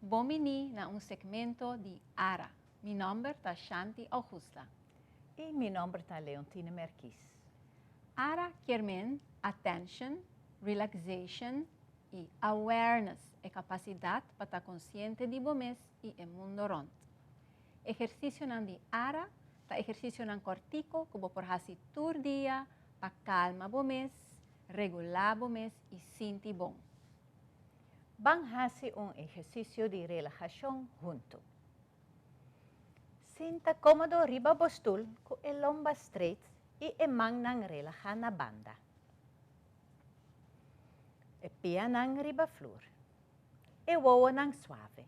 Bon biní na un segmento di Ara. Mi nòmber ta Shanti Augusta. I mi nòmber ta Leontine Merkys. Ara kier men attention, relaxation i awareness, e kapasidat pa ta konsiente di bo mes i e mundo rònt. Ehersisionan di Ara ta ehersisionan kòrtiku ku bo por hasi tur dia pa kalma bo mes, Regulá bo mes i sinti bon. Ban hasi un ehersisio di relahashon huntu. Sinta kómodo riba bo stul ku e lomba streit i e mannan relahá na banda. E pianan riba flur. E wowonan suave.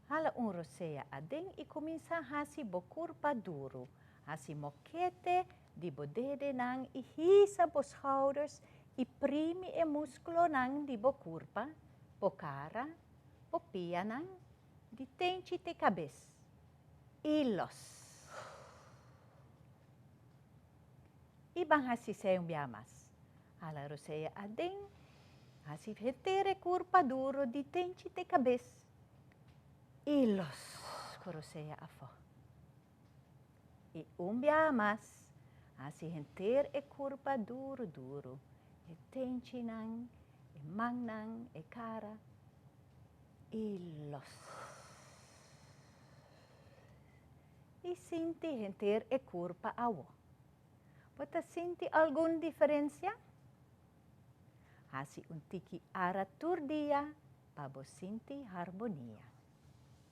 Hala un rosea aden i kuminsá hasi bo kurpa duru, hasi mokete di bo dedenan i hisa bo schouders i primi e muskulonan di bo kurpa, bo kara, bo pianan, di tenchi te kabes, i los. I ban hasi sei un biaha mas. Hala rosea aden, hasi henter e kurpa duro di tenchi te kabes, i los ku rosea afó. I un biaha mas, hasi henter e kurpa duru duru, e tenchinan, e mannan, e kara, i los. I sinti henter e kurpa awo. Bo ta sinti algun diferensia? Hasi un tiki ara tur dia pa bo sinti harmonia.